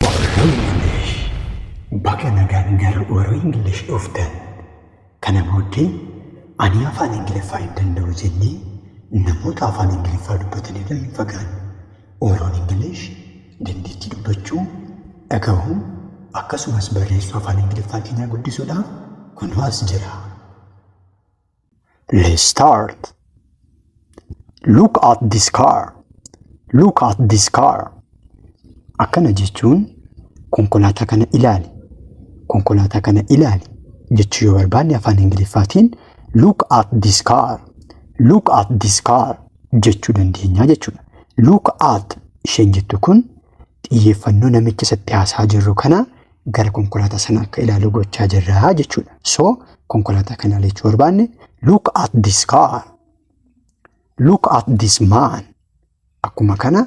Warri Ingilish baga nagaan gara warri Ingilish dhuftan. Kana booddee ani afaan Ingiliffaa hin danda'u jennee namoota afaan Ingiliffaa dubbatan irra hin fagaanne. Warroon Ingilish dandeettii dubbachuu, dhagahuu akkasumas barreessuu afaan Ingiliffaa keenyaa guddisuudhaaf kunoo as jira. Let's start. Look at this car. Look at this car. Akkana jechuun konkolaataa kana ilaali. Konkolaataa kana ilaali jechuu yoo barbaanne afaan Ingiliffaatiin look at this car. Look at this car jechuu dandeenya jechuudha. Look at isheen jettu kun xiyyeeffannoo namicha isatti haasaa jirru kana gara konkolaataa sana akka ilaalu gochaa jirra jechuudha. So konkolaataa kana jechuu barbaanne look at this car. Look at this man. Akkuma kana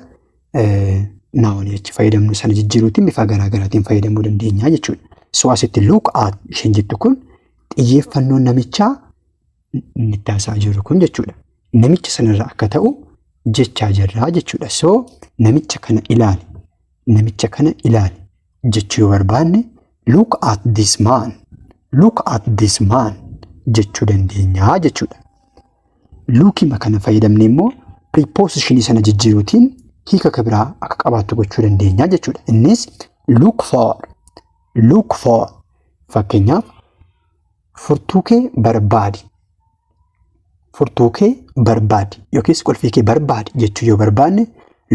naawanii achi fayyadamnu sana jijjiiruutiin bifa garaa garaatiin fayyadamuu dandeenya jechuudha. So asitti look at isheen jettu kun xiyyeeffannoon namichaa inni itti haasa'aa jiru kun jechuudha. Namicha sanarra akka ta'u jechaa jirraa jechuudha. So namicha kana ilaali. Namicha kana ilaali jechuu yoo barbaanne look at this man. Look at this man jechuu dandeenya jechuudha. Luukima kana fayyadamne immoo preposition sana jijjiiruutiin hiika akka biraa akka qabaattu gochuu dandeenya jechuudha. Innis look for. Look for. Fakkeenyaaf Furtuu kee barbaadi. Furtuu kee barbaadi yookiis qulfii kee barbaadi jechuu yoo barbaanne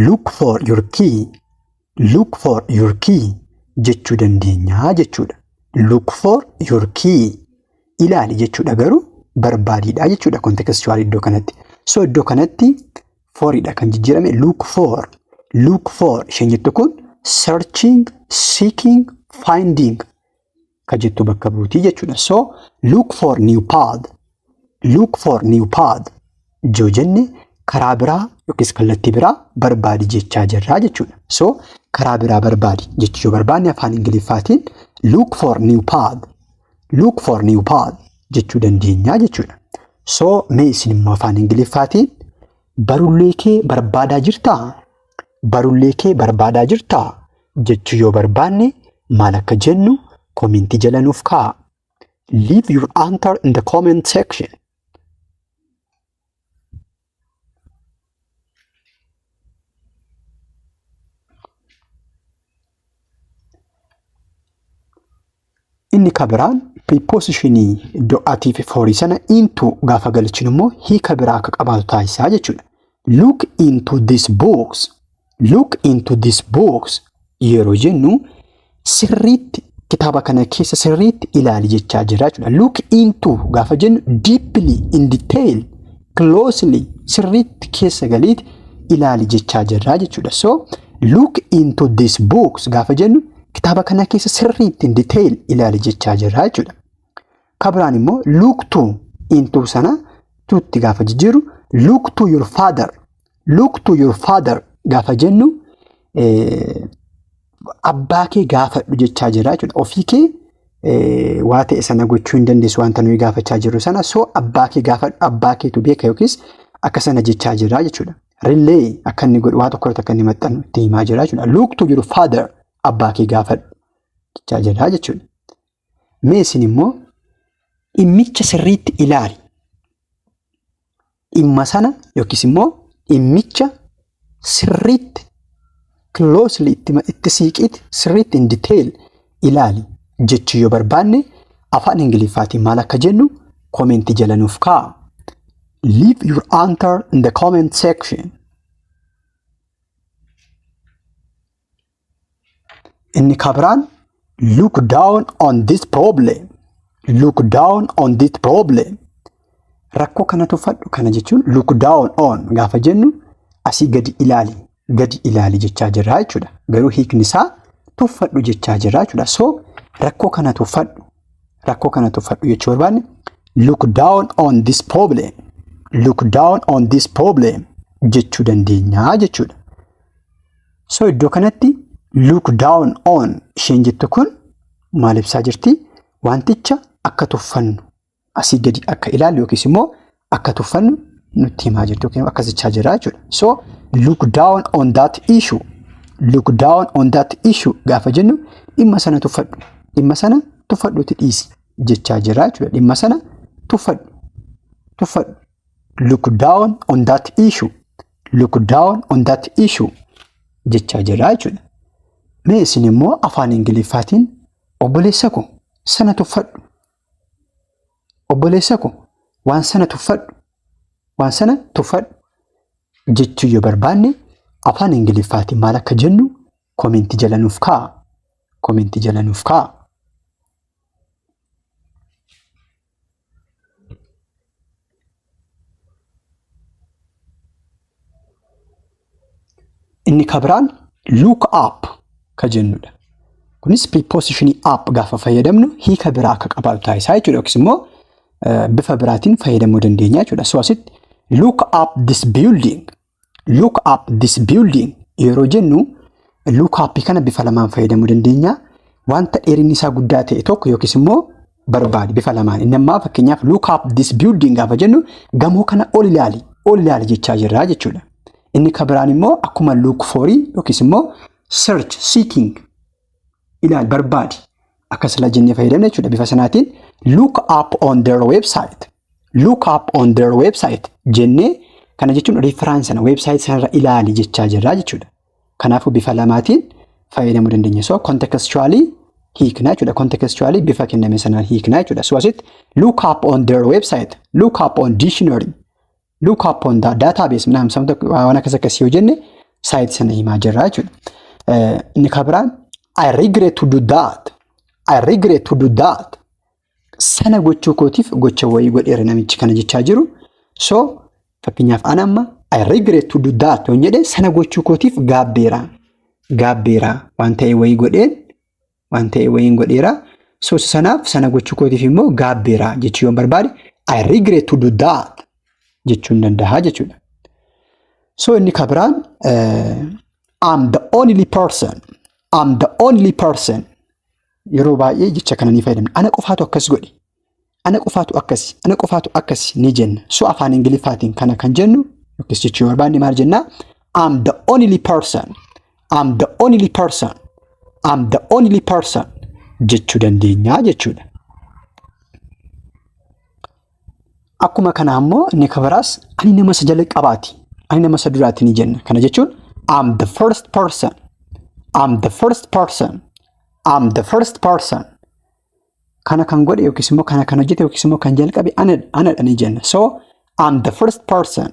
look for your key look for your key jechuu dandeenyaa jechuudha. Look for your key ilaali jechuudha garuu barbaadiidha jechuudha kontekstuwaal iddoo kanatti. So iddoo kanatti foridha kan jijjiirame look for look for isheen jettu kun searching seeking finding ka jettu bakka buutii jechuudha. So look for new path. Look for new path. Yoo jenne karaa biraa yookiis kallattii biraa barbaadi jechaa jirraa jechuudha. So karaa biraa barbaadi jechuu yoo barbaanne afaan Ingiliffaatiin look for new path. Look for new path jechuu dandeenya jechuudha. So mee isin immoo afaan Ingiliffaatiin barullee kee barbaadaa jirtaa? barullee kee barbaadaa jirtaa? jechuu yoo barbaanne maal akka jennu komentii jala nuuf kaa'a. Leave your answer in the comment section. Inni ka biraan piripoosishinii iddoo atii fi foorii sana into gaafa galchinu immoo hiika biraa akka qabaatu taasisaa jechuudha. Look into this box. Look into this box yeroo jennu sirriitti kitaaba kana keessa sirriitti ilaali jechaa jira jechuudha. Look into gaafa jennu deeply in detail closely sirriitti keessa galiiti ilaali jechaa jirraa jechuudha. So look into this books gaafa jennu kitaaba kana keessa sirriitti in detail ilaali jechaa jirraa jechuudha. Kabiraan immoo look to into sana tuutti gaafa jijjiiru look to your father Look to your father gaafa jennu abbaa kee gaafadhu jechaa jira jechuudha. Ofii kee waa ta'e sana gochuu hin dandeessu wanta nuyi gaafachaa jirru sana soo abbaa kee gaafadhu abbaa keetu beeka yookiis akka sana jechaa jira jechuudha. Rillee akka inni godhu waa tokko irratti akka inni maxxanu itti himaa jira jechuudha. Look to your father abbaa kee gaafadhu jechaa jira jechuudha. Mee isin immoo dhimmicha sirriitti ilaali. Dhimma sana yookiis immoo dhimmicha sirriitti closely itti, itti siiqiitti sirriitti in detail ilaali jechuu yoo barbaanne afaan Ingiliffaatiin maal akka jennu koomeentii jala nuuf kaa'a. Leave your answer in the comment section. Inni kabiraan look down on this problem. Look down on this problem. Rakkoo kana tuffadhu kana jechuun look down on gaafa jennu asii gadi ilaali gadi ilaali jechaa jirra jechuudha. Garuu hiikni isaa tuffadhu jechaa jirra jechuudha. So rakkoo kana tuffadhu rakkoo kana tuffadhu jechuu barbaanne look down on this problem. Look down on this problem jechuu dandeenya jechuudha. So iddoo kanatti look down on isheen jettu kun maal ibsaa jirti? Wanticha akka tuffannu asii gadi akka ilaallu yookiis immoo akka tuffannu nutti himaa jirti yookiin akkas jechaa jira jechuudha. So look down on that issue. Look down on that issue gaafa jennu dhimma sana tuffadhu. Dhimma sana tuffadhuuti dhiisi jechaa jira jechuudha. Dhimma sana tuffadhu. Tuffadhu. Look down on that issue. look down on that issue jechaa jira jechuudha. Mee isin immoo afaan Ingiliffaatiin obboleessa koo sana tuffadhu. Obboleessa koo waan sana tuffadhu. Waan sana tuffadhu jechuu yoo barbaanne afaan Ingiliffaatiin maal akka jennu koomenti jala nuuf kaa'a. Koomenti jala nuuf kaa'a. Inni ka biraan look up ka jennudha. Kunis prepositionii up gaafa fayyadamnu hiika biraa akka qabaatu taasisaa jechuudha yookiis immoo bifa biraatiin fayyadamuu dandeenya jechuudha. So asitti look up this building Look up this building yeroo jennu look up kana bifa lamaan fayyadamuu dandeenya. Wanta dheerinni isaa guddaa ta'e tokko yookiis immoo barbaadi bifa lamaan. Inni ammaa fakkeenyaaf look up this building gaafa jennu gamoo kana ol ilaali ol ilaali jechaa jirra jechuudha. Inni kan biraan immoo akkuma look for yookiis immoo search seeking ilaal barbaadi akka silaa jennee fayyadamne jechuudha bifa sanaatiin look up on their website look up on their website jennee kana jechuun reference sana website sanarra ilaali jechaa jirra jechuudha. Kanaafuu bifa lamaatiin fayyadamuu dandeenya. So contextually hiiknaa jechuudha. Contextually bifa kenname sanaan hiiknaa jechuudha. So asitti look up on their website, look up on dictionary look up on the database minaa samta waan akkas akkasii yoo jenne saayit sana himaa jirra jechuudha. Inni kan biraan I regret to do that. I regret to do that. Sana gochuu kootiif gocha wayii godheera namichi kana jechaa jiru. So fakkeenyaaf an amma I regret to do that yoo jedhe sana gochuu kootiif gaabbeera. Gaabbeera waan ta'e wayii godheen waan ta'e wayiin godheera. So sanaaf sana gochuu kootiif immoo gaabbeera jechuu yoon barbaade I regret to do that jechuun danda'a jechuudha. So inni kan biraan I'm the only person I'm the only person yeroo baay'ee jecha kana ni fayyadamna. Ana qofaatu akkas godhe. Ana qofaatu akkasi, ana qofaatu akkasi ni jenna. So afaan Ingiliffaatiin kana kan jennu yookiis jechuu yoo barbaanne maal jenna? I'm the only person. I'm the only person. I'm the only person jechuu dandeenya jechuudha. Akkuma kana ammoo inni kan biraas ani nama isa jalqabaati. Ani nama isa duraati ni jenna. Kana jechuun I'm the first person. I'm the first person. I'm the first person. kana kan godhe yookiis immoo kana kan hojjete yookiis immoo kan jalqabe ana- anadha ni jenna. So I'm the first person.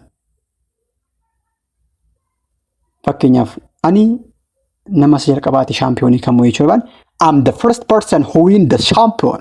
Fakkeenyaaf ani nama isa jalqabaati shaampiyoonii kan mo'e jechuudha. I'm the first person who win the champion.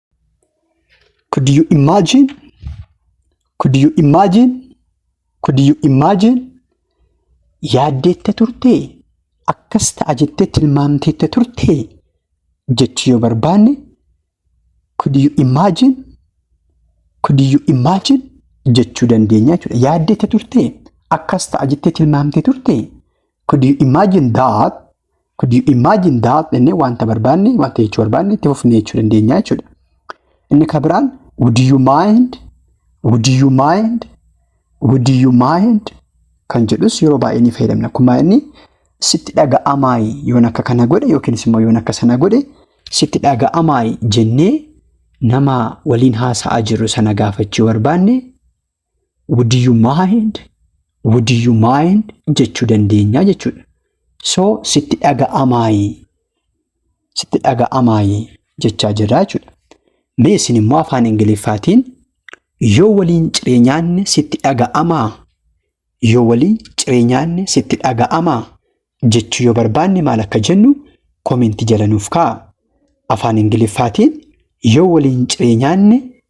Could you imagine? Could you imagine? Could you imagine? Yaaddeetta turtee? Akkas ta'a jettee tilmaamteetta turtee? Jechuu yoo barbaanne could you imagine? Could you imagine? Jechuu dandeenya jechuudha. Yaaddeetta turtee? Akkas ta'a jettee tilmaamtee turtee? Could you imagine that? Could you imagine that? Jennee wanta barbaanne, wanta jechuu barbaanne itti fufnee jechuu dandeenya jechuudha. Inni kan biraan would you mind? Would you mind? Would you mind? Kan jedhus yeroo baay'ee ni fayyadamna. Akkuma inni sitti dhaga'amaayi yoon akka kana godhe yookiinis immoo yoon akka sana godhe sitti dhaga'amaayi jennee nama waliin haasa'aa jirru sana gaafachuu barbaanne would you mind would you mind jechuu dandeenya jechuudha. So sitti dhaga'amaayi sitti dhaga'amaayi jechaa jirra jechuudha. Mee isin immoo afaan Ingiliffaatiin yoo waliin ciree nyaanne sitti dhaga'amaa yoo waliin ciree nyaanne sitti dhaga'amaa jechuu yoo barbaanne maal akka jennu koomenti jala nuuf kaa'a. Afaan Ingiliffaatiin yoo waliin ciree nyaanne